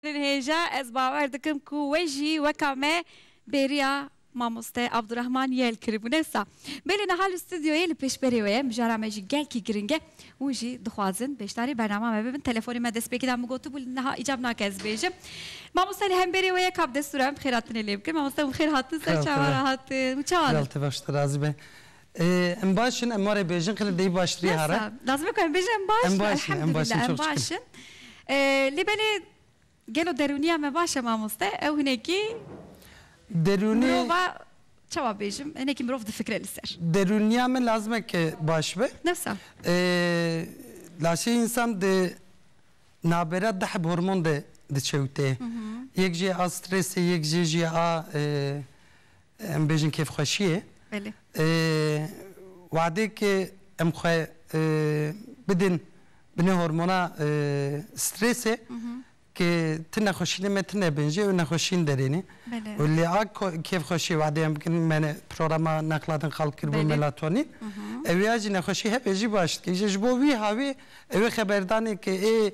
Hêja ez bawer dikim ku we jî weka me bêriya Mamoste Abdurahman Yel kiribû ne sa. Belê niha li stûdyoyê li pêşberê we ye, mijara me jî gelkî giring e. Hûn jî dixwazin beşdarî bernama me bibin. Telefonê me destpêkê da min gotibû li niha îcab nake ez bêjim. Mamoste li hemberê we ye ka bi destûra min bi xêratinê lê bikin. Mamoste hûn xêr hatin ser çawa re hatin? Hûn çawa ne? Gel te baş te razî be. Em baş in, em warê bêjin xêlê deyî baştirî hare. Bes e, lazim e ku em bêjin em baş in. Em baş in, em baş in, Elhemdulillah em baş in. Lê belê gelo derûniya me baş e mamoste? Ew hinekî Derûnî mirova çawa bêjim hinekî mirov difikire li ser. Derûniya me lazim e ke baş be. Bes e. Laşê însan di navbera di heb hormon de diçewite. Yek jî ye a strêsê, yek jê jî ye a Em bêjin kêfxweşiyê. Belê. Wadêk em xwe bidin binê hormona strêsê ke ti nexweşînê me tine bin jê û nexweşîn derênê. Belê. Û lê a kêfxweşiyê wadê em bikin me programa Nexla din xalk kiribû melatonîn. Ewê ya jî nexweşî hebe jî baş dike. Îja ji bo wî hawê ewê xeberdanê ke ê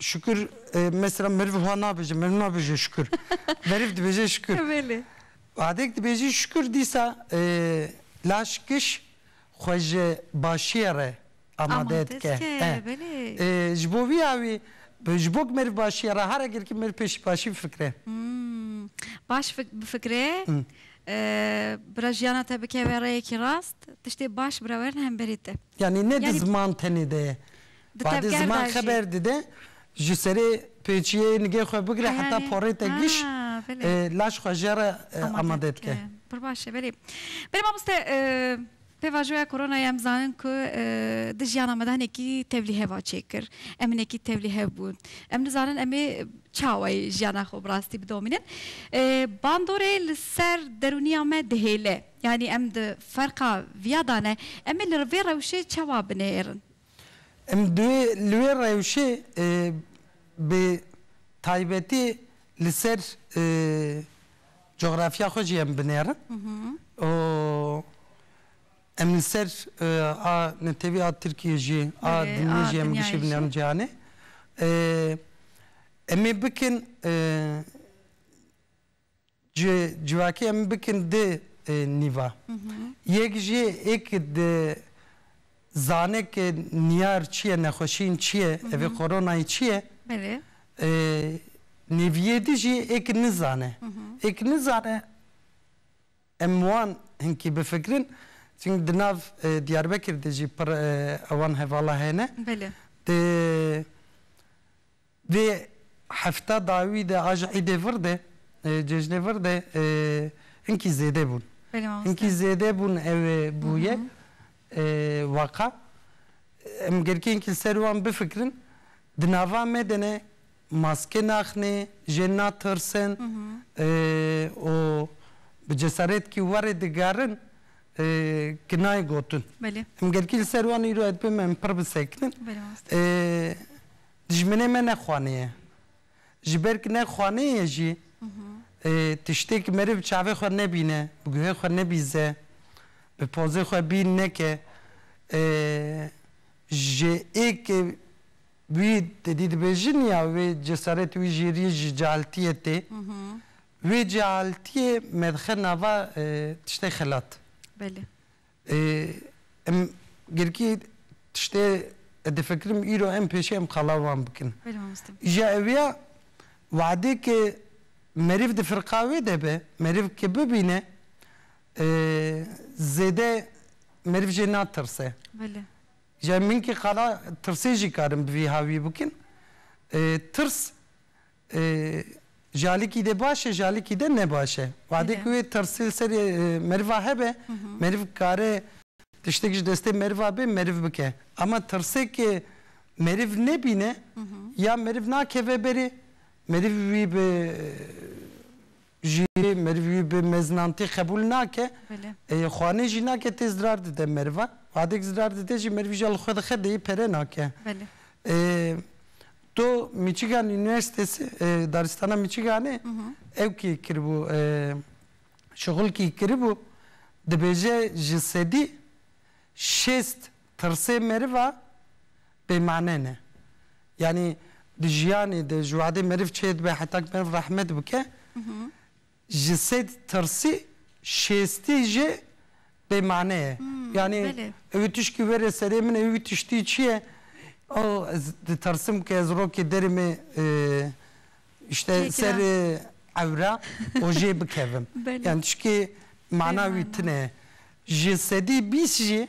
Şükür e, mesela meriv wiha nabêje, meriv nabêje şükür. meriv dibêje şükür. Belê. Adek dibêjî şükür dîsa e, laş kiş xwe ji başiyê re amade Amade dike. dike, E. belê. E, ji bo vî awî bi- ji bo ku meriv başiyê re hara girkî meriv pêşî başî bifikire. Hmm, Baş fik- bifikire. e, Bira jiyana te bikeve rêyekî rast, tiştê baş bira werin hemberî te. Yanî ne di Yani- ziman tenê de ye. Di Badê tevger ziman de jî. xeber dide, ji serê pêçiyeyê nigê xwe bigire heta Heyalê. porê te giş, Ha, belê. e, laş xwe jê re e, amade dike. Pir baş e, belê. Belê mamoste, e, pêvajoya koronayê em zanin ku, e, di jiyana me de hinekî tevlîhev a çêkir. Em hinekî tevlîhev bûn. Em nizanin em ê çawayê jiyana xwe bi rastî bidomînin. E, bandorê li ser derûniya me dihêle. Yanî em di ferqa viya de ne. Em ê li vê rewşê çawa binêrin? Em divê li wê rewşê bi taybetî li ser coxrafya xwe jî em binêrin û em li ser a netewî a Tirkiyê jî a dinyê jî em gişî binêrin cîhanê. Em ê bikin Ji civakê em bikin du nîva. Yek jî ê ku di zane ku niyar çi ye, nexweşiyên çi ye, evê koronayê çi ye. Belê. Nêviyê di jî ê ku nizane. Ê ku nizane em wan hinkî bifikirin. Çimkî di nav Diyarbekir de jî pir ewan hevala hene. Belê. Di Di hefta dawî de a ji îdê vir de cejnê vir de hinkî zêde bûn. Hinkî zêde bûn ew ê bûye waka. Em gelkî hinkî li ser wan bifikirin. Di nava me de ne maske naxne, jên natirsin û bi cesaretkî warê digerin ki nayê gotin. Em gelkî li ser wan îro ez dibêjim em pir bisekinin. Dijminê me ne xanê ye. Ji ber ku ne xanê ye jî tiştê ku meriv çavê xwe nebîne, bi guhê xwe nebîze, bi pozê xwe bîn neke, ji êkê wî te dî dibêjin ya wê cesaretê wî jî rî ji cehaltiyê tê. Wê cehaltiyê me dixe nava tiştê xelat. Belê. Em girkî tiştê difikirim îro em pêşî em qala wan bikin. Îja ev ya wadê ke meriv di firqa wê de be, meriv ke bibîne zêde meriv jê natirse. Îja min kî qala tirsê jî karin bi vî havî bikin. Tirs. Jalikî de baş e, jalikî de ne baş e. Wadê ku wê tirsê li serê meriva hebe, meriv kare tiştek ji destê meriva bê meriv bike. Ama tirsêkê meriv nebîne ya meriv nakeve berê, meriv wî bi Jî meriv wî bi meznantî qebûl nake. Xwanê jî nake tê zirar dide merivan. Wadek zirar dide jî merivî jî ya li xwe dixe deyê pere nake. To Michigan Üniversitesi daristana Michiganê ew kî kiribû şixul kî kiribû dibêje ji sedî şêst Tirsê meriva bêmane ne. Yanî di jiyanê de ji wadê meriv çêdibe heta ku meriv rehmet bike, ji sed tirsî şêstî jî bêmane ye. Yanî ew ê tişkî were serê min ew tiştî çi ye? Oh ez ditirsim ku ez rokê derê me îşte ser ewre û jê bikevim. Yanî tişkê mana wî tune ye. Ji sedî bîst jî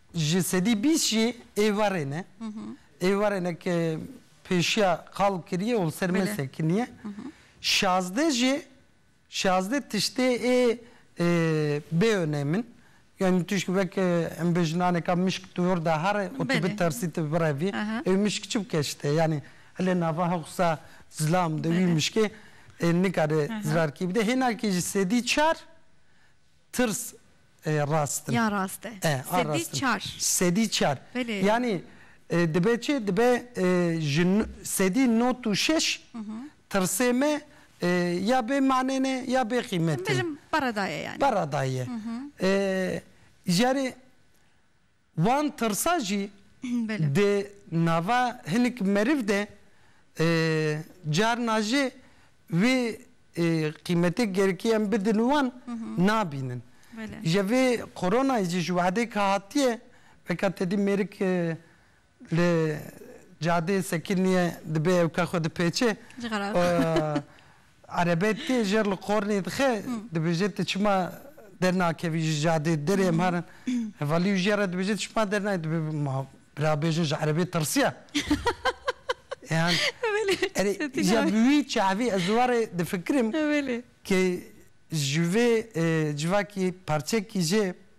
Ji sedî bîst jî êvarê ne. Êvarê ne ke pêşiya qal kiriye û li ser me sekiniye. Şazdeh jî şazdeh tiştê ê bê onem in. Yanî tu ji weke em bê jinaneka mişk tu wir de here û tu bitersî tu birevî ew mişk çi bike ji te? Yanî hile nava hewsa zilam de wî mişkê nikare zirarkî bide. Hênakî ji sedî çar. Tirs e rast in. Ya rast e. E, a Sedî rast in. çar. Sedî çar. Belê. Yanî dibe çi? Dibe ji sedî not û şeş tirsê me ya bê manê ne ya bê qîmet in. Bijim para da ye yanî. Para da ye. Ji erê. Wan tirsa jî di nava hinek meriv de carna jê wê qîmetê gerekî em bidin wan nabînin. Ji vê koronayê jî ji wehdê ke hatiye weke tedî mêrik li cadeyê sekiniye dibe ew ke xwe dipêçe Erebe tê jer li qornê dixe, dibêje tu çima dernakevî ji cadê derê em herin. Hevalî û jiya re dibêje tu çima dernayê dibê ma bira bêjin ji erebê tirsiya. Yan erê jiya bi wî çavî ez warê difikirim ke ji vê civakî parçekî jê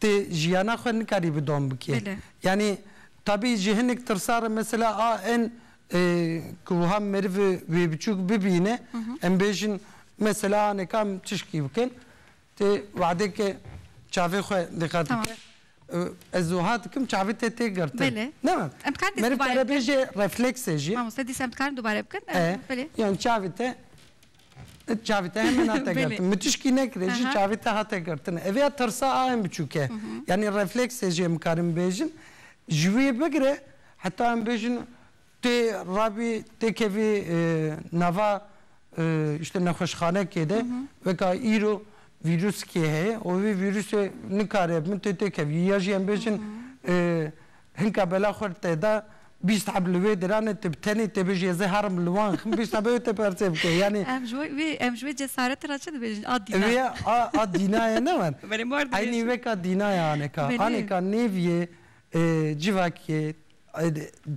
Ti jiyana xwe nikarî bi dom bikê. Yanî tebî ji hinek tirsar e mesela a in ku wiha meriv wê biçûk bibîne em bêjin mesela anê ka em tişkî bikin ti wedekê çavê xwe diqet bike ez wiha dikim çavê te tê girtin. Meriv kare bêje refleksê jî. Mamoste dîsa em dikarin dubare bikin. Yan çavê te It çavê te hemen hate girtin. Min tişkî nekirê jî çavê te hate girtin. Ev ya tirsa a em biçûk e. Yanî refleksê jî em karin bêjin. Ji wê bigire heta em bêjin tê rabî tê kevî nava îşte nexweşxanekê de weka îro vîrûskê heye û vê vîrûsê nikare bi min tê têkevî ya jî em bêjin Hinka bela xwe li te da, bîst heb li wê dirane, tu bi tenê tê bêjî ez ê herim li wan xim, bîst heb ew ê te persê bike. Yanî. Em ji wê em ji wê cesaretê re çi dibêjin? A dîna. Wê a a dîna ye ne wan. Belê mar dibêjin. Eynî weka dîna ye aneka. Belê. Aneka nêv yê civakiyê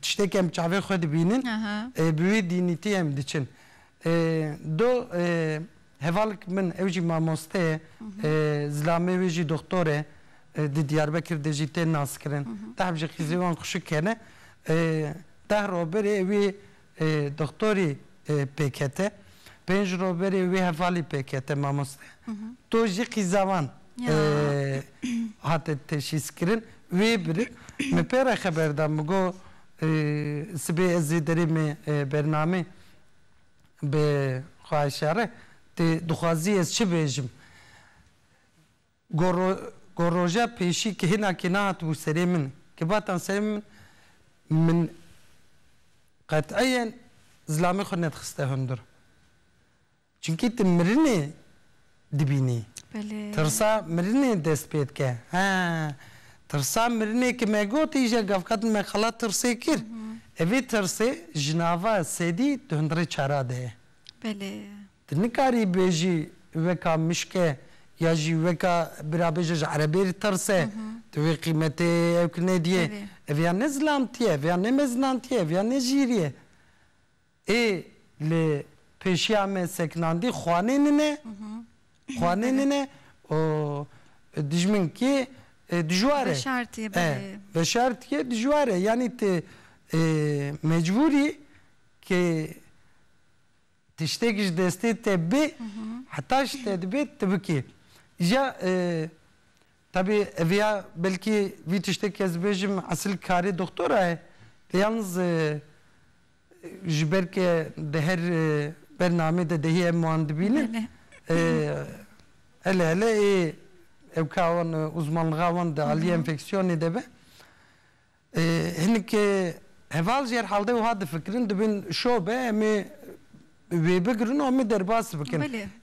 tiştê ke em bi çavê xwe dibînin, bi wê dînîtiyê em diçin. Do. Hevalk min ew jî mamoste ye, zilamê wê jî doxtor e, di Diyarbekir de jî tên naskirin. Tahp ji xîzê wan xuşik kene. Deh roj berê wê doxtorî pêkete, pênc roj berê wê hevalî pêkete mamoste. Doj jî xîza wan hate teşîskirin. Wê bir min pê re xeber da, min got sibê ez ê derê me bernamê. Bi xwahişa re tu dixwazî ez çi bêjim? Gor gor roja pêşî kihêna kê nehatibû serê min, kê batan serê min, min qet'iyen zilamê xwe nedixiste hundir. Çimkî tu mirinê dibînî. Tirsa mirinê dest pê dike. He, tirsa mirinê ki me got îje gavkadin me qala tirsê kir. E vê tirsê ji nava sedî di hundirê çara de ye. Tu nikarî bêjî weka mişke ya jî weka bira bêje ji erebê re tirs e. Tu vê qîmetê ew ki nedîyê. Ev ya ne zilamtî ye, ev ya ne mezinantî ye, ev ya ne jîrî ye. Ê li pêşiya me seknandî xwanê min e, xwanê min e û dijminkê dijwar e. Veşartî belê. Veşartî dijwar e yanî ti mecbûr î ke tiştek ji destê te bê heta ji te dibe ti bikê. Îja tevî ev ya belkî vî tiştekî ez dibêjim esil karê doktora ye lê yalniz Ji ber ke di her bernamê de dehê em wan dibînin. Hele hele ê ew ka wan uzmanlixa wan di aliyê enfeksiyonê de be. Hinek heval jî herhal de wiha difikirin dibin şo be em ê wê bigirin û em ê derbas bikin.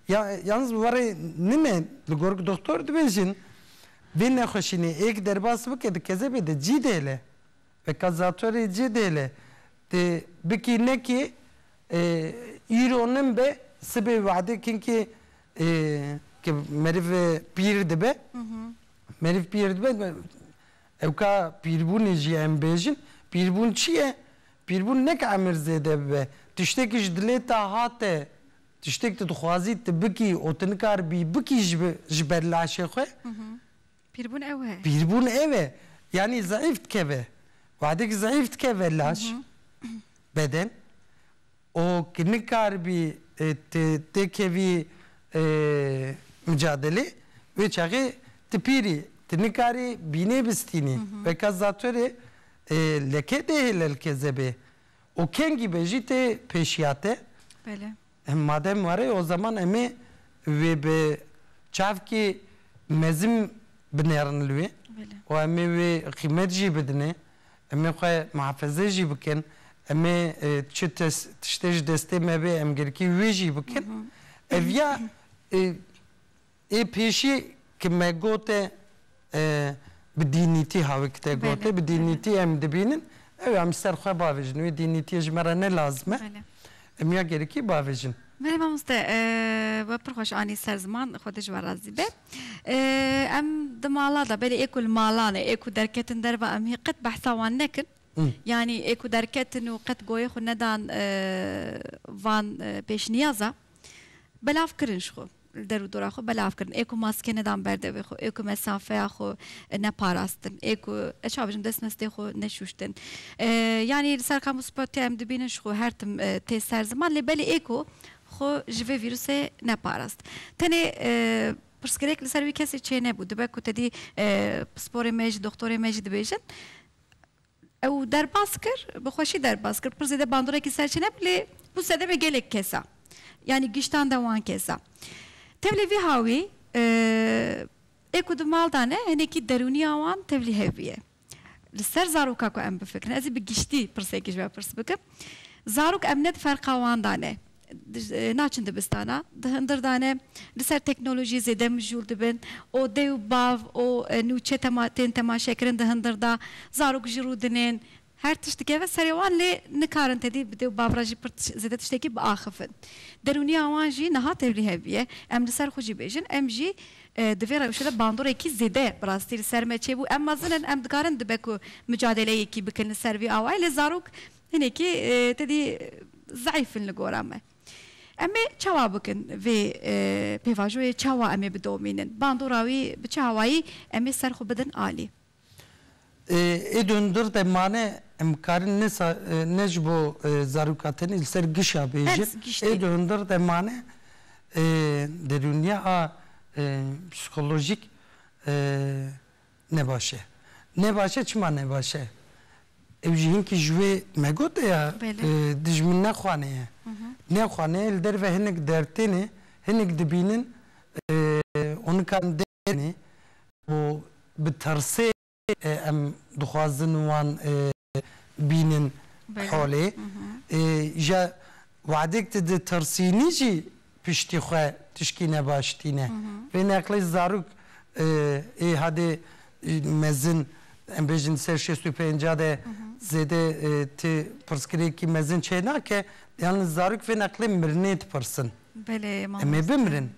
Ya yalnîz bi warê nin e li gor ku doxtor dibêjin vê nexweşînê êk derbas bike di kezebê de cî dihêle. Bi kazatorê cî dêle. Tê bikî nekî îro nin be sibê wade kinkî ke meriv pîr dibe meriv pîr dibe ewka pîrbûnê jî em bêjin pîrbûn çî ye pîrbûn neke emir zêde bibe tiştekî ji dilê te hate tiştek tu dixwazî tu bikî û tu nikar bî bikî ji ber laşê xwe Pîrbûn ew e. Pîrbûn ew e. Yanî zeîf dikeve. Wexdekî zeîf dikeve laş, beden û ki nikaribî tu tê kevî micadelê wê çaxê tu pîr î. Tu nikarî bînê bistînî. Weka zatûrê leke dê hêlelkezebê û kengî be jî tê pêşiya te. Em madem were o zeman em ê wê bi çavkê mezin binerin li wê û em ê wê qîmet jî bidin ê, em ê xwe mihafeze jî bikin, em ê çi tiştê ji destê me bê em girkî wê jî bikin. Ev ya Ê pêşî ki me got e bi dînîtî havik te got e, bi dînîtî em dibînin ew em ji ser xwe bavêjin. Wê dînîtiyê ji me re ne lazim e. Em ya gerikî bavêjin. Belê mamoste, we pir xweş anî ser ziman, Xwedê ji we razî be. Em di mala de belê ê ku li malan e, ê ku derketin derve em hê qet behsa wan nekin. Yanî ê ku derketin û qet goyê xwe nedan van pêşniyaza belav kirin ji xwe. li der û dora xwe belav kirin, ê ku maske nedan ber devê xwe, ê ku mesafeya xwe neparastin, ê ku ez çawa bijim destmestê xwe neşûştin. Yanî li ser qam û spotya em dibînin ji xwe her tim tê ser ziman lê belê ê ku xwe ji vê vîrusê neparast. Tenê pirsgirêk li ser wî kesê çênebû. Dibe ku tedî pisporê me jî, doxtorê me jî dibêjin. Ew derbas kir, bi xweşî derbas kir. Pir zêde bandorekî ser çê nebû lê bû sedemê gelek kesa. Yanî giştan de wan kesa. Tevlî vî hawî ê ku di mal de ne hinekî derûniya wan tevlî hev bûye. Li ser zaroka ku em bifikirin. Ez ê bi giştî pirsekê ji we pirs bikim. Zarok em ne di ferqa wan de ne. naçin dibistana, di hindir de ne, li ser teknolojiyê zêde mijûl dibin û dê û bav û nûçe tema tên temaşekirin di hindir de, zarok ji rû dinên, her tişt dikeve serê wan lê nikarin tedî bi dê û bav re jî pir zêde tiştekî biaxifin. Derûniya wan jî niha tevlî hev bûye. Em li ser xwe jî bêjin, em jî di vê rewşê de bandorekî zêde bi rastî li ser me çêbû. Em mezin in, em dikarin dibe ku micadêleyekî bikin li ser vî awayî lê zarok Hinekî tedî zeîf in li gora me. Em ê çawa bikin vê pêvajoyê çawa em ê bidomînin? Bandora wî bi çi awayî em ê ser xwe bidin alî? Ê dûndir de mane em karin ne ne ji bo zaroka tenê li ser gişa bêjin. Ê dûndir de mane derûniya a psîkolojîk Ne baş e. Ne baş e çima ne baş e? Ew jî hinkî ji wê me gote ya dijmin ne xwane ye. Ne xwane ye li derve hinek derd têne, hinek dibînin onikan dêrnê û bi tirsê em dixwazin wan bînin holê. Ja We'dek tu ditirsînî jî piştî xwe tişkî ne baş tîne. Vê neqlê zarok ê hadê mezin em bêjin ser şêst û pênca de zêde ti pirsgirêkî mezin çê nake. Yan zarok vê neqlê mirinê dipirsin. Em ê bimirin?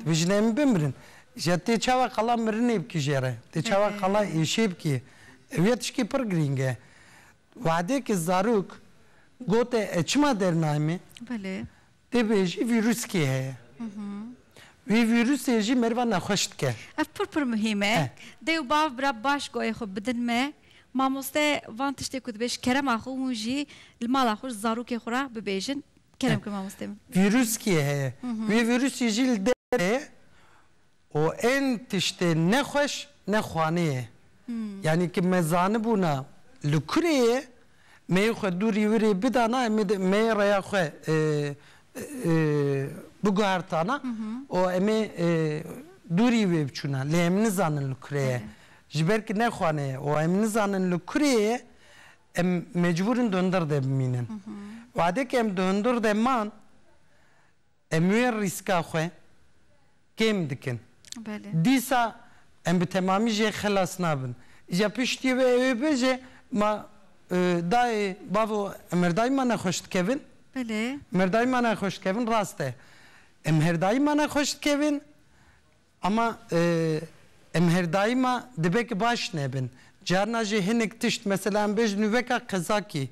Dibêjin em ê bimirin. Ja tê çawa qala mirinê bikijêre? Tê çawa qala êşê bikê? Ev yê tişkê pir girîng e. Wahidêkê zarok gote ez çima dernayê me? Belê. Tê bêjî vîruskê heye. Vî vîrusê jî merivan nexweş dike. Ev pir pir muhîm e. Dê û bav bira baş goyê xwe bidin me. Mamoste van tiştê ku dibê ji kerema xwe hûn jî li mala xwe ji zarokê xwe re bibêjin. Kerem ki mamostê min. Vîruskê heye. Vî vîrusê jî li derê ye û ên tiştê ne xweş ne xwanê ye. Yanî ki me zanibûna li kurê ye, meyê xwe dû rîwirê bidana em ê meyê reya xwe biguhertana û em ê dû rîwê biçûna. Lê em nizanin li kurê ye. Ji ber ki ne xwanê ye û em nizanin li kurê ye, em mecbûr in di hundir de bimînin. Wadekî em di hundir de man, Em wê rîska xwe kêm dikin. Dîsa em bi temamî jê xilas nabin. Îja piştî wê ew ê bêje ma dayê, bavo em merdayî ma nexweş dikevin? Merdayî ma nexweş dikevin rast e. Em merdayî ma nexweş dikevin Ama em her daîma dibe ki baş nebin. Carna jî hinek tişt mesela em bêjin nû veka qezakî,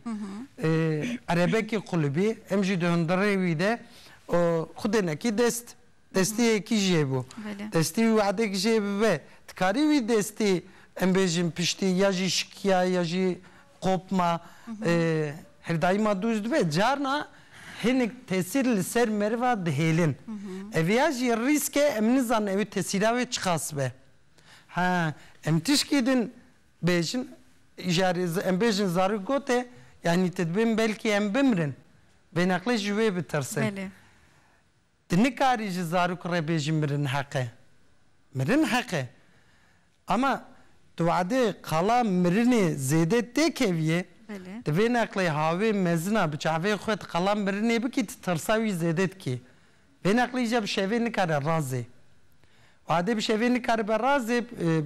erebekî qulibî em jî di hundirê wî de xwedê nekî dest destiyekî jê bû. Destî wî wedek jê bibe. Dikarî wî destî em bêjin piştî ya jî şikiya ya jî qopma hevdayîma dû ji dibe carna hinek tesîr li ser meriva dihêlin. Ev ya jî rîsk e em nizanin ew tesîra wê çiqas be. Ha em tişkî din bêjin îjarê em bêjin zarok gote yanî te dibin belkî em bimirin. Vê neqlê ji wê bitirsin. Tu nikarî ji zarok re bêjî mirin heq e. Mirin heq e. Ama tu wedê qala mirinê zêde tê keviyê, tu vê neqlê havê mezina bi çavê xwe di qala mirinê bikî tu tirsa wî zêde dikî. Vê neqlî îca bi şevê nikare razê. Wedê bi şevê nikaribe razê,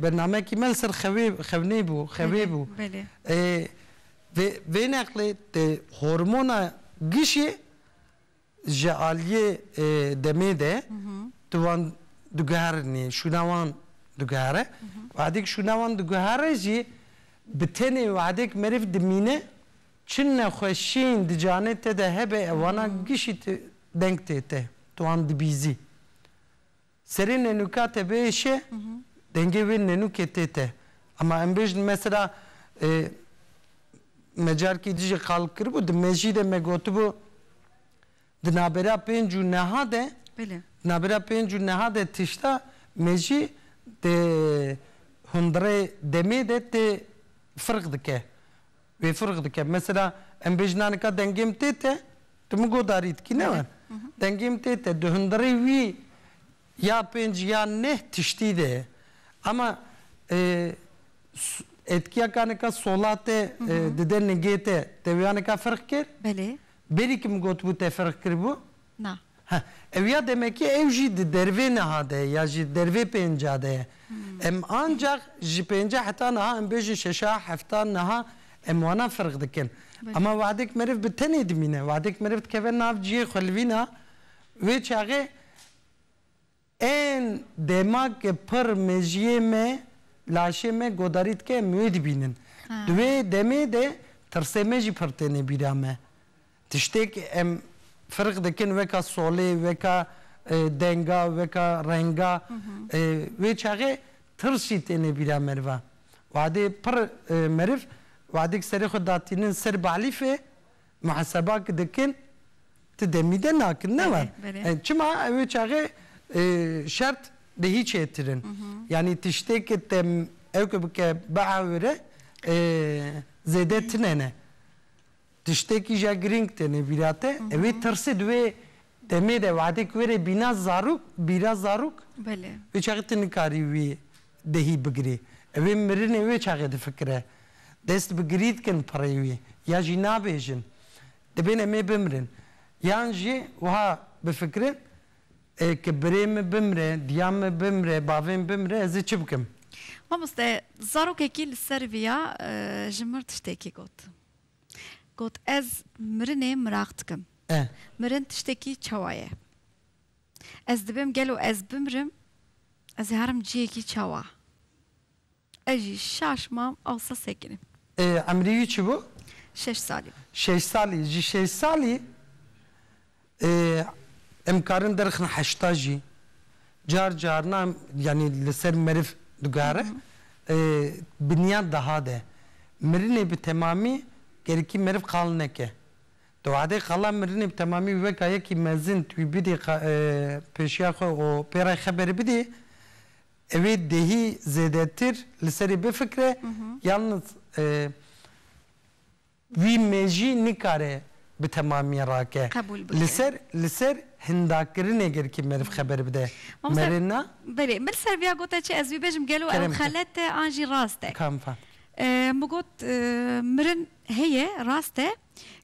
bernameyekî me li ser xewê xewnê bû, xewê bû. Vê vê neqlê tu hormona gişê, Ji aliyê demê de tu wan diguherinî, şûna wan diguhere. Wexdêk şûna wan diguhere jî bi tenê wexdêk meriv dimîne, çi nexweşîyên di canê te de hebe wana gişî deng tê te, tu wan dibîzî. Serê nenûka te biêşe dengê wê nenûkê tê te. Ema em bêjin mesela me carkê dijî qal kiribû di mejî de me gotibû di nabera pênc û neha de Belê. Di nabera pênc û neha de tişta mejî di hundirê demê de tê firq dike. Wê firq dike. Mesela em bêjin a nika dengêm tê te, tu min godarî dikî ne wan. Dengêm tê te, di hundirê wî ya pênc ya neh tiştî de ye. Ema êtkiya ka nika sola te dide nigê te, te wê a nika firq kir? Belê. Berî ki min gotibû te firq kiribû? Na. He, ew ya demekê ew jî di dervê niha de ye ya jî di dervê pênca de ye. Em ancax ji pênca heta niha em bêjin şeşa, hefta niha em wana firq dikin. Ema wexdek meriv bi tenê dimîne, wexdek meriv dikeve nav ciyê xwe li vîna wê çaxê Ên dema ke pir mejiyê me, laşê me godarî dike em wê dibînin. Di wê demê de tirsê me jî pir têne bîra me. Tiştêk em firq dikin weka solê, weka denga, weka renga. Wê çaxê tirs jî têne bîra merivan. Wadê pir meriv wadêk serê xwe datînin ser balîfê Muheseba ki dikin ti demî de nakin ne wan çima ew ê çaxê şert bi hîç hêtir in yanî tiştê ki te ew ki bike biewire zêde tine ne tiştê ki ja girîng tenê vîra te ew ê tirsê di wê Demê de wehdek were bîna zarok, bîra zarok. Belê. Wê çaxê tu nikarî wî dehî bigirî. Ew ê mirinê wê çaxê difikire. Dest bi girî dikin pirê wî. Ya jî nabêjin, dibên em ê bimirin. Yan jî wiha bifikirin, Ê ke birê min bimire, diya min bimire, bavê min bimire ez ê çi bikim? Mamoste, zarokekî li ser vî ya ji mir tiştekî got. Got, Ez mirinê miraq dikim. Mirin tiştekî çawa ye? Ez dibim gelo ez bimirim ez ê herim ciyekî çawa? Ez jî şaş mam awsa sekinîm. Emrî wî çi bû? Şeş salî bû. Şeş salî, ji şeş salî Em karin derxin heşta jî car carna yanî li ser meriv digare binyan deha de. Mirinê bi temamî gerikî meriv qal neke. Di wehdê qala mirinê bi temamî wî weka yekî mezin tu wî bidî pêşiya xwe û pê re xeberê bidî ewê dehî zêdetir li serê bifikre yalnız Vî mejî nikare bi temamiyê rake Qebûl li bike. ser li ser hindakirinê girkî meriv xeber bide. Mamosta Mere na. Belê, min li ser viya gote çi ez bibêjim gelo ew Kerem te. xelet e an jî rast e? Kam fam. Min got mirin heye rast e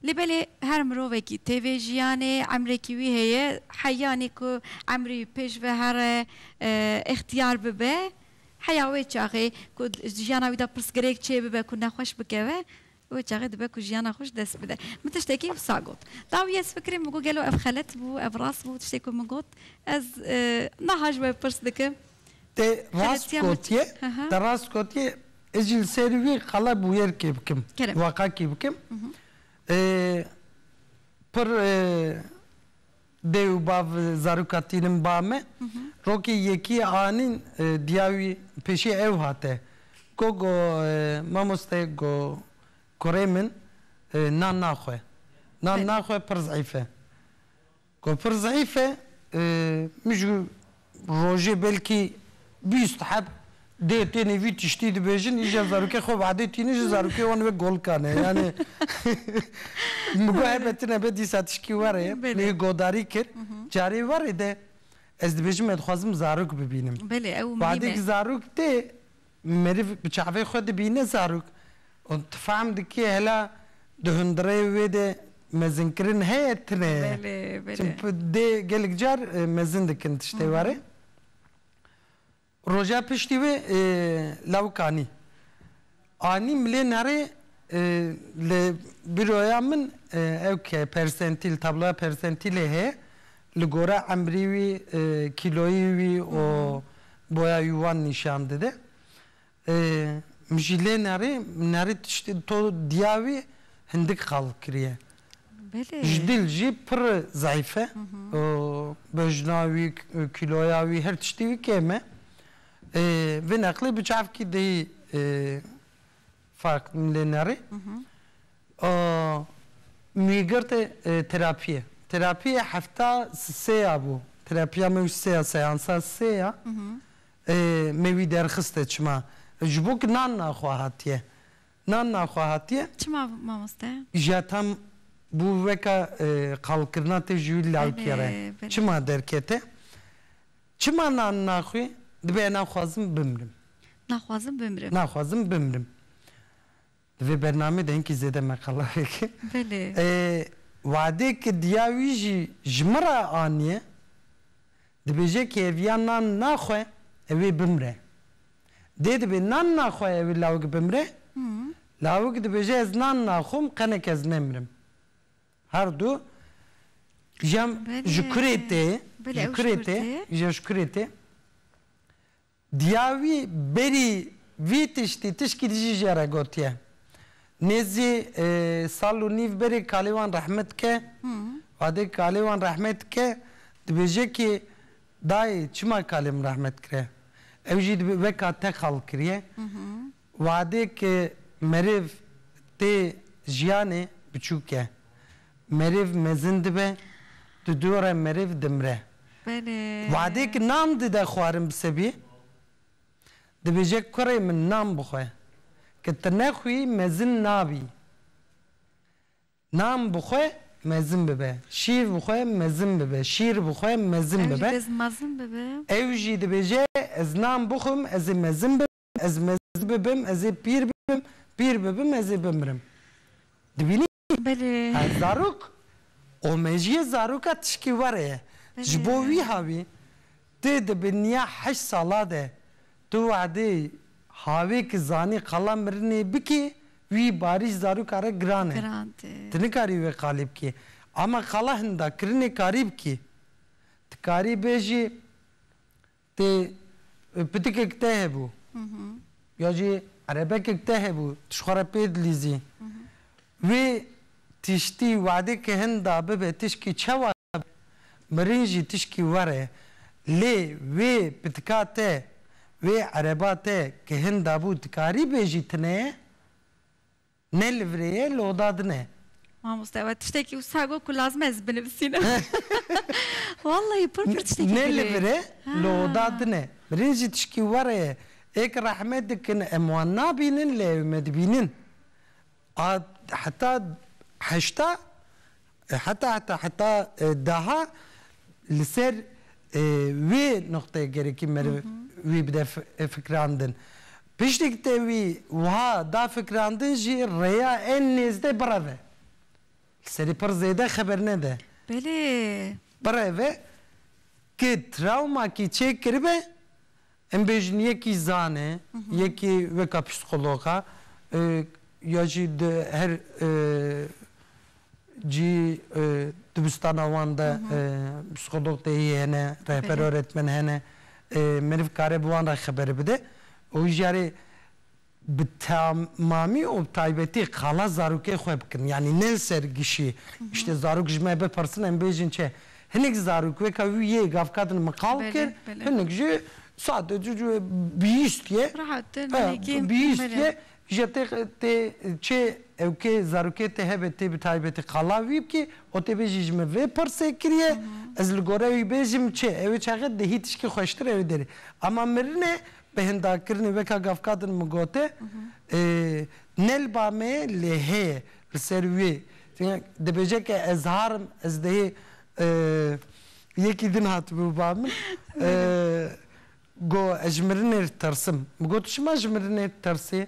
lê belê her mirovekî tê vê jiyanê emrekî wî heye heyanî ku emrî wî pêş ve here îxtiyar bibe Heya wê çaxê ku di jiyana wî de pirsgirêk çêbibe ku nexweş bikeve, wê çaxê dibe ku jiyana xwe ji dest bide. Min tiştekî wisa got. Dawî ez fikirîm min got gelo ev xelet bû, ev rast bû tiştê ku min got. Ez niha ji we pirs dikim. Te rast gotiye, te rast gotiye. Ez jî li ser wî qala bûyerkê bikim, waqakî bikim. Pir Dê û bav zaroka tînin ba me. Rokê yekî anîn diya wî pêşê ew hate. Ko go mamoste go kurê min nan naxwe. Nan naxwe pir zeîf e. Go pir zeîf e min ji. Rojê belkî bîst heb dê tênê vî tiştî dibêjin, îja zarokê xwe vedê tînin jî zarokê wan wek golka ne. Yanî min got hebe tune be dîsa tişkî were. Min yê godarî kir, carê were de ez dibêjim me dixwazim zarok bibînim. Vedê ku zarok tê Meriv bi çavê xwe dibîne zarok û tu fehm dikî hela di hundirê wê de mezinkirin heye tune ye. Belê, belê. Çimpi dê gelek car mezin dikin tiştê warê. Roja piştî wê lawik anî. Anî milên herê li bîroya min ew ke persentîl, tabloya persentîlê heye. Li gore emrî wî, kîloyî wî û boya wî wan nîşan dide. Min jî lê nerî, nerî tiştê to diya wî hindik qal kiriye. Ji dil jî pir zayîf e. Bejna wî, kîloya wî, her tiştî wî kêm e. Vê neqlê bi çavkî dihî. Fark lê neri. A mîgirtê terapiyê. Terapiyê hefta sê ya bû. Terapiya me wî sê ya seansa sê ya. Me wî derxiste çima. Ji bo ku nan naxwe hatiye. Nan naxwe hatiye. Çima mamoste? Ja tam bû weke qalkirina te ji wî lawikê re. Çima derkete? Çima nan naxwî? Dibe naxwazim bimrim. Naxwazim bimrim. Naxwazim bimrim. Di vê bernameyê de hinkî zêde me qala veke. Belê. Wadê ke diya wî jî ji min re aniye, dibêje ke ev ya nan naxwe ew ê bimre. Dê dibe nan naxwe ew ê lawik bimre, lawik dibêje ez nan naxwim qenek ez nemrim. Her du cem ji kurê tê, ji kurê tê, ji kurê tê. Diya wî berî vî tiştî tişkî dijî jê re gotiye. Nêzî sal û nîv berê kalê wan rehme dike. Wadê kalê wan rehme dike, dibêje kî dayê çima kalê min rehme dikire? Ew jî dibê weka te xal kiriye. Wadêk merêv tê jiyanê biçûk e. Merêv mezin dibe, di dû re merêv dimire. Wadêk nan dide xwarin bi sebî, dibêje kurê min nan bixwe. Ke ti nexwî mezin nabî. Nan bixwe mezin bibe. Şîr bixwe mezin bibe. Şîr bixwe mezin bibe. Ew jî dibêje ez nan bixwim ez ê mezin bibim. ez mezin bibim, ez ê pîr bibim, pîr bibim ez ê bimirim. Dibînî? Belê. Ha zarok û mejiyê zaroka tişkî were ye. Ji bo wîha wî ti di binîya heşt sala de tu wedê havê ki zanî qala mirinê bikî wî barî ji zaroka re giran e. Giran tê. Ti nikarî wê qalî bikî. Ama qala hinda kirinê karî bikî. Ti karî bêjî Tê pitikek te hebû ya jî erebekek te hebû tu ji xwe re pê dilîzî wê tiştî wade ke hin da bibe tişkî çewa be mirin jî tişkî were lê wê pitika te wê ereba te ke hin dabû dikarî bêjî tune ye? Ne li virê ye, loda din e. Mamoste we tiştekî wisa got ku lazim e ez binivisînim. Wallahî pir pir tiştekî girê. Ne li vir e, loda din e. Mirin jî tişkî were ye. Ê ke rehme dikin em wan nabînin lê ew me dibînin. A heta heşta Heta heta heta daha li ser wê nuqteyê gerekî meriv wî bide fikrandin. Piştî ku te wî wiha da fikrandin jî rêya ên nêzdê bireve. Li serî pir zêde xeber nede. Belê. Bireve ku trawmakî çêkiribe Em bêjin yekî zan e, yekî weka psîkolog e ya jî di her cî dibistana wan de psîkolog tê yê hene, rehber öğretmen hene. Meriv kare bi wan re xeber bide û jî yarê bi temamî û bi taybetî qala zarokê xwe bikin. Yanî ne li ser gişî îştê zarok ji me bipirsin em bêjin çi. Hinek zarok weka wî yê gavkadin min qal kir, hinek jî sadece cû bihîst yê. Bihîst yê ji tê tê çê ew kê zarokê tê hebe tê bi taybetî qala wî bikî û tê bêjî ji min vê pirsê kiriye ez li gore wî bêjim çi. Ew ê çaxê dihî tişkî xweştir ew ê derê. Ema mirinê Behendakirinê weka gavkadin min gote ne li ba me lê heye li ser wê dibêje ke ez har im ez dihê yekî din hatibû bi ba min got ez ji mirinê ditirsim min got tu çima ji mirinê ditirsê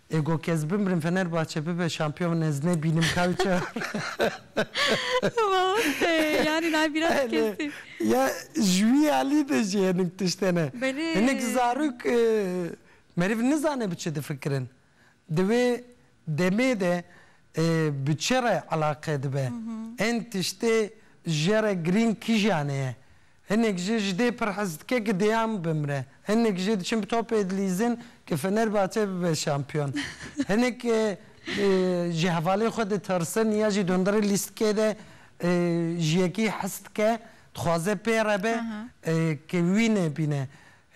Ego kes bimrim Fenerbahçe bibe şampiyon ez nebînim kawçar. Wawtee yani nayê bîra tu kestî. Ya ji wî alî de jî hinek tişt hene. Belê. Hinek zarok meriv nizane bi çi difikirin. Di wê demê de bi çi re elaqe dibe. Ên tiştê jere girîng kîjanê ye. Hinek jî ji dê pir hez dike ku Dejan bimre. Hinek jî diçin bi topê dilîzin ku Fenerbahçe bibe şampiyon. Hinek ji hevalên xwe ditirsin ya jî dundirê lîstikê de ji yekî hez dike, dixwaze pê re be ku wî nebîne.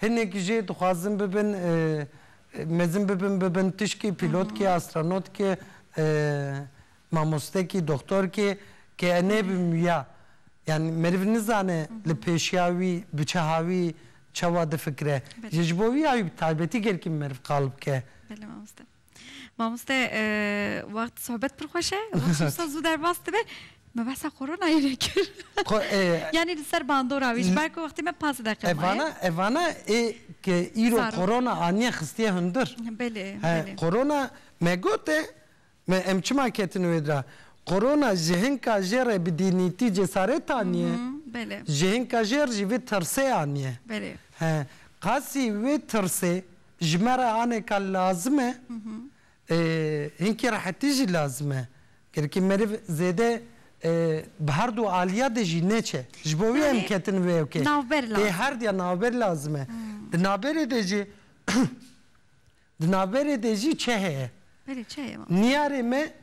Hinek jî dixwazin bibin mezin bibin bibin tişkî, pîlotkî, astronotki. mamostekî, doxtorkê ke nebim wiya. Yanî meriv nizane li pêşiya wî bi çaha wî çawa difikire. Jî ji bo wiya wî bi taybetî gelkî meriv qal bike. Belê mamoste. Mamoste wext sohbet pir xweş e. Wisa zû derbas dibe. Me behsa koronayê nekir. Yanî li ser bandora wî ji ber ku wextê me panzdeh deqiqe maye. Evana evana ê ke îro korona aniye xistiye hundir. Belê belê. Korona me gote Me em çima ketin wê dra? Korona ji hinka jê re bi dînîtî cesaret aniye? Ji hinka jêr jî vê tirsê aniye. He, qasî wê tirsê ji me re aneka lazim e, hinkî rehetî jî lazim e. Gelekî meriv zêde bi herdu aliya de jî neçe. Ji bo wê em ketin wê ok e. Ê herdiya navber lazim e. Di navberê de jî Di navberê de jî çi heye? Belê çi heye mamoste? Niyarê me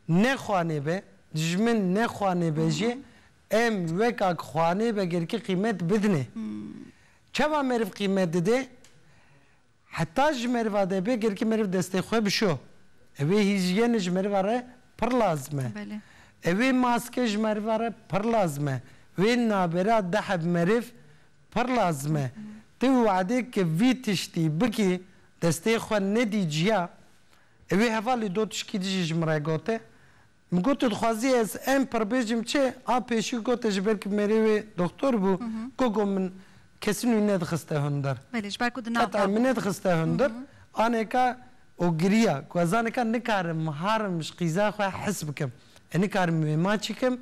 ne xwanêbe, dijmin ne xwanêbe jî em weka ku xwanêbe girkî qîmet bidinê. Çawa meriv qîmet didê? Heta ji meriva de bê girkî meriv destê xwe bişo. Ewê hîjyene ji meriva re pir lazim e. Ewê maske ji meriva re pir lazim e. Wê nabera diheb meriv Pir lazim e tu wade ke vî tiştî bikî destê xwe nedî ciya. Ê wê hevalî do tişkî dijî ji min re gote. Min got tu dixwazî ez em pir bêjim çi? A pêşî gote ji ber ku mêrê wê doktor bû gogo min kesin wî nedixiste hundir. Heta min nedixiste hundir anêka û giriya ku ez anêka nikarim harim ji qîza xwe hes bikim. Ê nikarim wê ma çikim.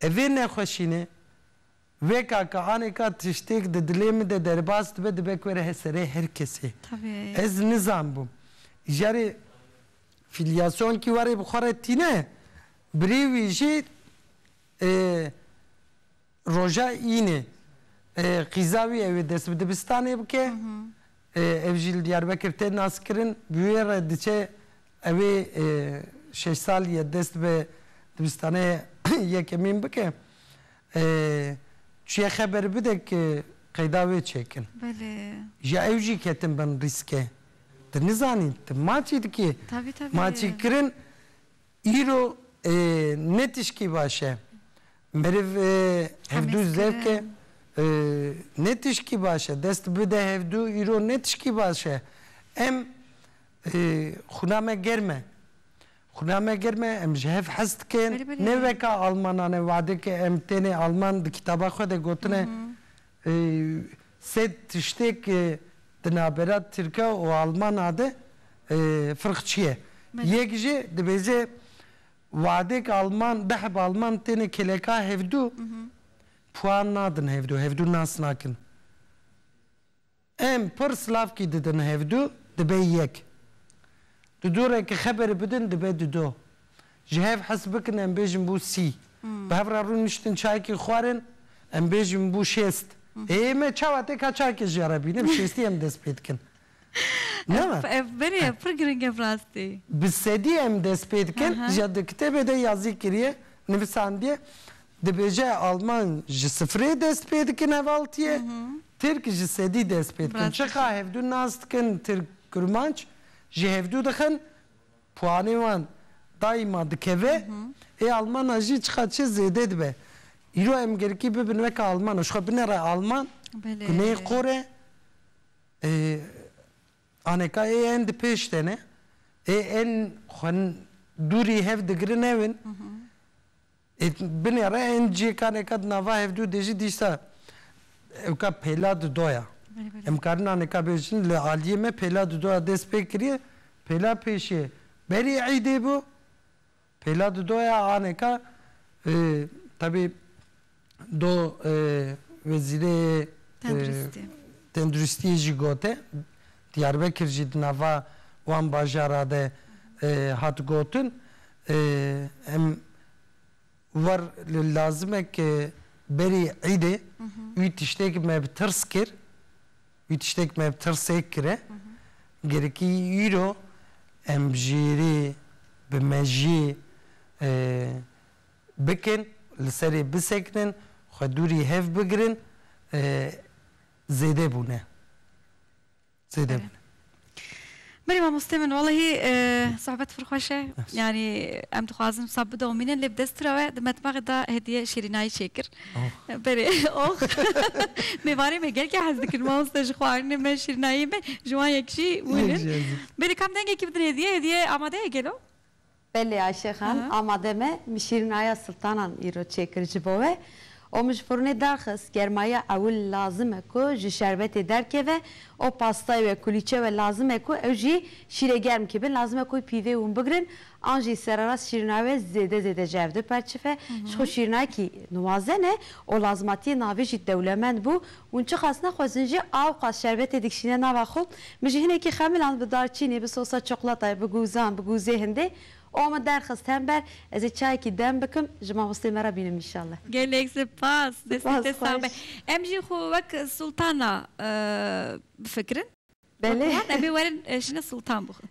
Evê nexweşîne, weka ka anêka tiştêk di dilê min de derbas dibe, dibe ku were her serê her kesê. Ez nizanbûm. Îjarê fîlyasyonê kî warê bi xwe re tîne, birê wî jî roja înê qîza wî ew ê dest bi dibistanê bike. Ev jî li Diyarbekir tê naskirin. Bi wê re diçe ew ê şeş salîye dest bi dibistanê yekemîn bike. Çiye xeber bide ki qeyda wê çêkin. Ja ew jî ketin bin rîske. Ti nizanî ti maçî dikî. Maçîkirin Îro ne tişkî baş e. Meriv hevdu zevk e. Ne tişkî baş e. Dest bide hevdu îro ne tişkî baş e. Em xwina me germ e. Xwina me germ e, em ji hev hez dikin. Ne weka almanan e, wadeke em tenê alman di kitaba xwe de gotine Sê tiştêk di navbera tirka û almana de firq çi ye? Yek jî dibêje wadêk alman dehb alman têne kêleka hevdû puan nadin hevdû, hevdû nas nakin. Em pir slavkî didin hevdu dibe yek. Di du re ki xeberê bidin dibe di do. Ji hev hes bikin em bêjin bû sî. Bi hev re rûn niştin çayekî xwarin em bêjin bû şêst. Ê me çawa tê ka çayekê jê re bînim şêstî em dest pê dikin. Ev ev berê ev pir giring e bi rastî. Bi sedî em dest pê dikin ja di kitêbê de yazî kiriye nivisandiye Dibêje Alman ji sifirê dest pê dikin hevaltiyê, Tirk ji sedî dest pê dikin. Çiqa hevdu nas dikin Tirk Kurmanc ji hevdu dixin, puanê wan daîma dikeve. Ê Almana jî çiqa çi zêde dibe. Îro em gerikî bibin weke Almana, ji xwe binere Alman, guneyê qor e. Aneka ê en di pêş de ne. Ê en xwe dûrî hev digirin ew in. Ê binê re ên cêkanêka di nava hevdu dê jî dîsa ewka pêla di do ya. Em karin anêka bêjin li aliyê me pêla di do ya dest pê kiriye. Pêla pêşê berî îdê bû. Pêla di do ya anêka tebî do wezîrê tenduristiyê jî gote Diyarbekir jî di nava wan bajara de hat gotin, em war li lazimek berî Îdê wî tiştêk me bi tirs kir, wî tiştêk me bi tirsêk kire, gerîkî îro em bi jêrê, bi mejiyê bikin, li serê bisekinin, xwe dûrî hev bigirin, zêde bûne. Zêde bûne. Berê mamostê min walahi sohbet pir xweş e. Yanî em dixwazin wisa bidomînin lê bi dest tira we di metbaxê de hediye şîrînayî çêkir. Berê oh mêvanê me gelkî hez dikin mamoste ji xwarinê me şîrînayê me ji wan yek jî hûn in. Berê kam dengekî bidin hediye hediye amade ye gelo? Belê Ayşe Xan, amade me, min şîrînaya siltanan îro çêkir ji bo we û min ji furnê derxist, germaya ewil lazim e ku ji şerbetê derkeve û pastayê wê kulîçe we lazim e ku ew jî şîrê germ kibin, lazim e ku pîvê hûn bigirin an jî sererast şîrînaya we zêde zêde ji hev diperçife, ji xwe şîrînayekî nuwazen e û lazmatiyên navê jî dewlemend bû, Hûn çiqas nexwezin jî awqas şerbetê dikişîne nava xwe, min jî hinekî xemiland bi darçînê, bi sosa çiqlatayê, bi gûzan, bi gûzê hindê û min derxist hember ez ê çayekî dem bikim, ji mamosteyê me re bînim înşallah. Gelek sipas, destê te sağ be. Em jî xwe wek sultana bifikirin. Belê. Wek wan em ê werin şine sultan bixwin.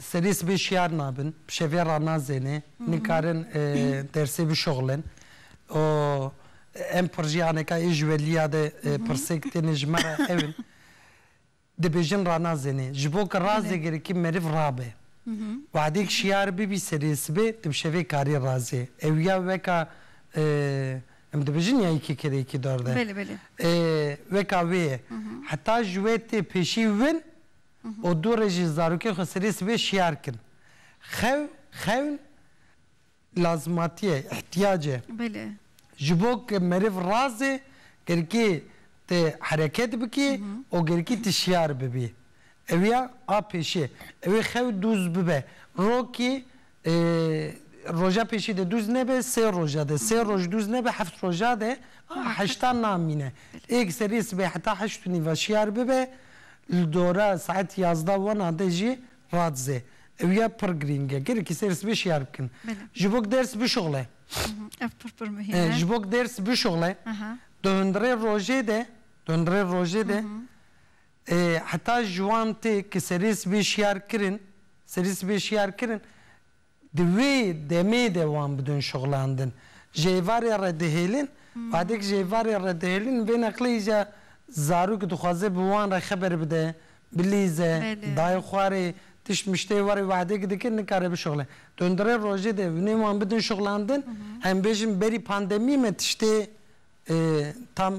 Serî sibê şiyar nabin, bi şevê re nazêne, nikarin dersê bişuxlin û em projeyaneka ê ji we liya de pirsêk têne ji me re ew in, dibêjin ranazêne. Ji bo ku razê gerikî meriv rabe, wexdêk şiyar bibî serê sibê tu bi şevê karî razê. Ew ya weka em dibêjin ya yekî kere yekî dor de. Weka wê ye. Heta ji we tê pêşî win. û du rê jî zarokê xwe serê sibê şiyar kin. Xew, xewn, lazimatiye, îhtîyac e. Belê. Ji bo ke meriv razê gerikê ti hereket bikî û gerikî ti şiyar bibî. Ew ya a pêşê. Ewê xew dûz bibe. Rokî E, roja pêşî de dûz nebe, sê roja de, sê roj dûz nebe, heft roja de, a heşta namîne. Êk serê sibê heta heşt û nîva şiyar bibe, li dora saet yazda wana de jî radizê. Ew ya pir girîng e. Gelekî serê sibê şiyar bikin. Ji bo ku ders bişuxile. Ev pir pir muhîm e. Ji bo ku ders bişuxile, di hundirê rojê de, di hundirê rojê de, Heta ji wan tê ku serê sibê şiyar kirin, serê sibê şiyar kirin, di wê demê de wan bidon şixulandin. Ji êvarê re dihêlin, badê ku ji êvarê re dihêlin, vê neqlê îcar zarok dixwaze bi wan re xeber bide, bilîze, dayê xwe rê, tişt miştê we rê wehdê ku dike nikare bişixule. Dondurê rojê de vinê wan bidon şixulandin, em bêjin berî pandemî me tiştê tam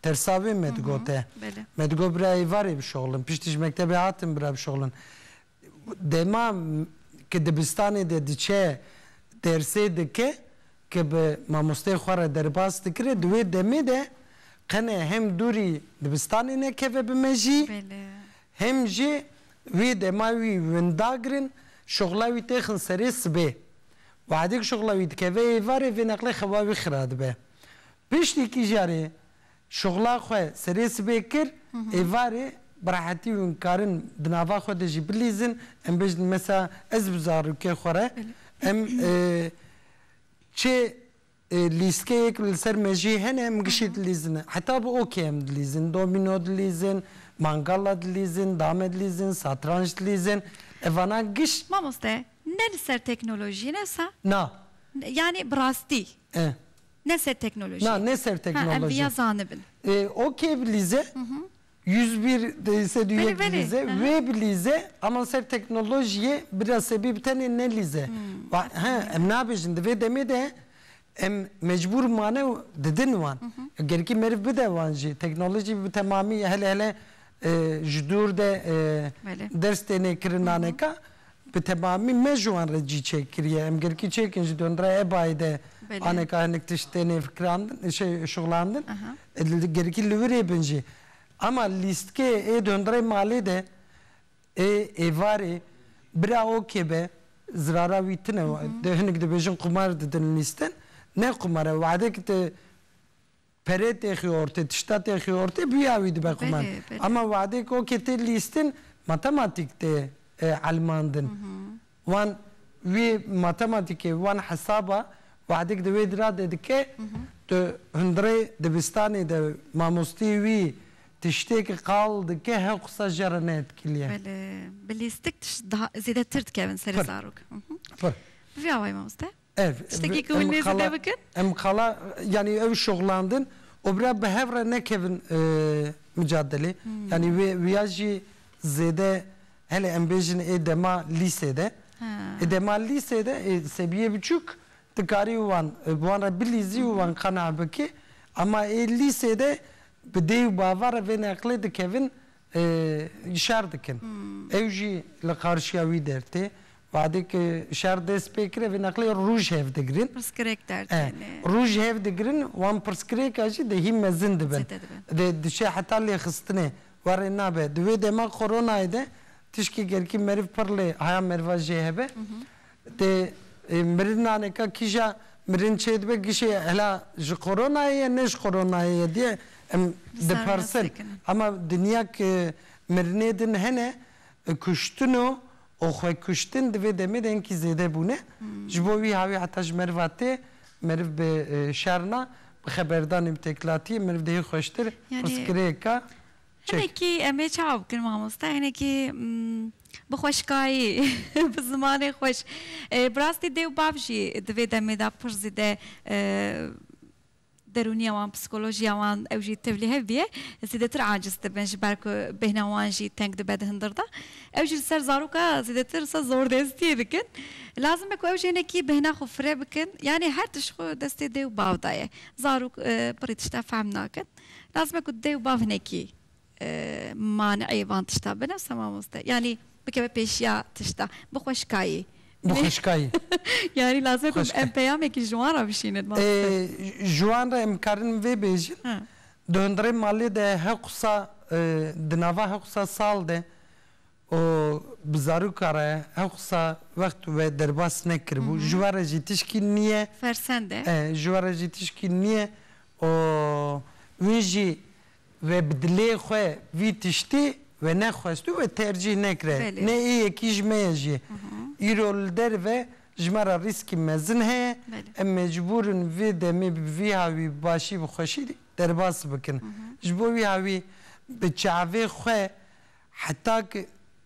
Persa wê me digote. Me digot bira êvarê bişoxlin. Piştî ji mektebê hatin bira bişoxlin. Dema ke dibistanê de diçe dersê dike ke bi mamosteyê xwe re derbas dikire di wê demê de qene hem dûrî dibistanê nekeve bi mejî hem jî wê dema wî winda girin şoxla wî têxin serê sibê. Wexdê ku şoxla wî dikeve êvarê vê neqlê xewa wî xira dibe. Piştî kijarê şuxla xwe serê sibê kir, êvarê bi rehetî hûn karin di nava xwe de jî bilîzin. Em bêjin mesela ez bi zarokê xwe re em çê lîstkeyê ku li ser mejiyê hene em gişî dilîzin. Heta bi okê em dilîzin, domîno dilîzin, mangala dilîzin, dame dilîzin, satranc dilîzin. Evana giş. Mamoste ne li ser teknolojiyê ne wisa? Na. Yanî bi rastî. Ne ser teknolojiyê. Na ne ser teknolojiyê. Ha em viya zanibin. E ok bi lîze yüz bir se du yek bi lîze wê bi lîze ama ser teknolojiyê biraz sebî bi tenê ne lîze. Wa he em nabêjin di vê demê de em mecbûr mane û didin wan. Gerkî meriv bide wan jî teknolojî bi temamî hele hele ji dûr de ders têne kirin naneka. Bi temamî me ji wan re cî çêk kiriye. Em girkî çêk in ji Donduraya Ebayê de aneka hinek tişt têne fikirandin, şey şixulandin. Girkî li wir ê bin jî. Ema lîstikê ê Dondurayê Malê de ê êvarê bira OK be, zirara wî tune. Hinek dibêjin qumar didin lîstin. Ne qumar e. Wehdekî tu Perê tê xyortê, tişta tê xyortê bûya wî dibe xwe man. Ama wadê ku okê tê lîstin, matematîk tê elmandin. Wan wî matematîkê, wan hesaba wadek di wê dira de dike, tu hundirê dibistanê de mamostê wî tiştêk qal dike hew qisa ji re neetkiliye. Belê, bi lîstik tişt daha zêdetir dikevin serê zarok. Pir. Bi vî awayî mamoste. Ev, Tiştekî ku hûn em nêzî qala, dê bikin? em qala yanî ew şoxlandin û bira bi hev re nekevin micadelê. Yanî wê wîya jî zêde hele em bêjin ê dema lîsê de. Ê dema lîsê de ê sebiyê biçûk dikarî wan bi wan re bilîzî û wan qenae bikî. Ema ê lîsê de bi dê û bava re vê neqlê dikevin şer dikin. Ew jî li qarşiya wî der tê. Badê ku şer dest pê kir, ev ê neqlê rûj hev digirin. Pirsgirêk der tên. E, rûj hev digirin, wan pirsgirêka jî dehî mezin dibin. Dê diçe heta lêxistinê. Warê nabe. Di wê dema koronayê de tişkê gerkî meriv pir lê haya meriva jê hebe. Tê mirina neka kîja mirin çêdibe gişê hela ji koronayê ye ne ji koronayê ye diye em dipersin. Ema dinya ke mirinê din hene kuştin û xwekuştin di vê demê de hinkî zêde bûne. Ji bo wî hawî heta ji meriva tê meriv bi şerna bi xeberdanê bi têkilatiyê meriv dihê xweştir pirsgirêka çek. Hinekî em ê çawa bikin mamoste hinekî Bi xweşkayî, bi zimanê xweş. Bi rastî dê û bav jî di vê demê de pir zêde derûniya wan, psîkolojiya wan ew jî tevlî hev bîye, zêdetir aciz dibin ji ber ku bêhna wan jî teng dibe di hindir de. Ew jî li ser zaroka zêdetir sa zordestiyê dikin. Lazim e ku ew jî hinekî bêhna xwe fire bikin. Yanî her tişt xwe destê dê û bav de ye. Zarok pirî tişta fehm nakin. Lazim e ku dê û bav hinekî Maneyê van tişta binivse mamoste. Yanî bikeve pêşiya tişta. Bi xwe şikayî. Bi xwe şikayî. Yanî lazim ku em peyamekî ji wan re bişînin mamoste. Ji wan re em dikarin vê bêjin, di hundirê malê de her qisa di nava her qisa sal de û bi zaroka re her qisa wext we derbas nekiribû. Ji we re jî tişkî nîye. Fersend e. Ji we re jî tişkî nîye û wî jî We bi dilê xwe vî tiştî wenexwest û we tercîh nekiriye. Nê ê yekî ji me ye jî. Îro li derive ji me re rîskî mezin heye. Em mecbûr in vê demê bi vî hawî bi başî bi xweşî derbas bikin. Ji bo wî hawî bi çavê xwe Heta ku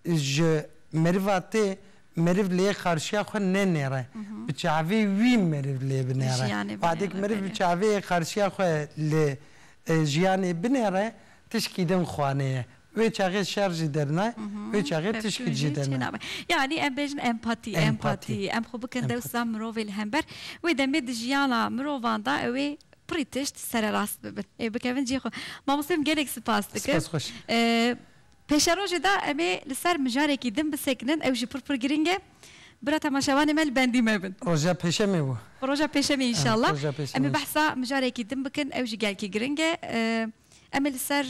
ji meriva tê, meriv li yê qarşiya xwe nenêre, bi çavê wî meriv lê binêre. Wadê ku meriv bi çavê yê qarşiya xwe li jiyanê binêre, tişkî din xwanê ye. Wê çaxê şer jî derna, wê çaxê tişkî jî derna. Yanî em bêjin empatî, empatî. Em xwe bikin dewsa mirovê li hember. Wê demê di jiyana mirovan de ew ê Pirî tişt sererast bibin. Ê bikevin cihê xwe. Mamoste min gelek spas dikim. Spas xweş. Pêşerojê de em ê li ser mijarekî din bisekinin. Ew jî pir pir giring e. Bira temaşevanê me li bendî mebin. Roja pêşemê bû. Roja pêşemê inşallah. Roja pêşemê. Em ê behsa mijarekî din bikin. Ew jî gelkî giring e. Em ê li ser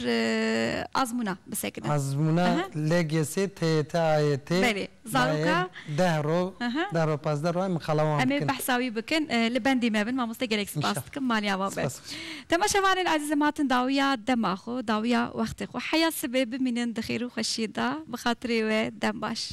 azmûna bisekinin. Azmûna LGS TYT-AYT Belê. Zaroka mayê deh roj, deh roj, pazdeh roj em ê qelewan bikin. Em ê behsa wî bikin. Li bendê me bin. Mamoste gelek spas dikim. Maliya wan be. Temaşevanên ezîz em hatin dawiya dema xwe, dawiya wextê xwe. Heya sibê bimînin di xêr û xweşiyê de. Bi xatirê we dem baş.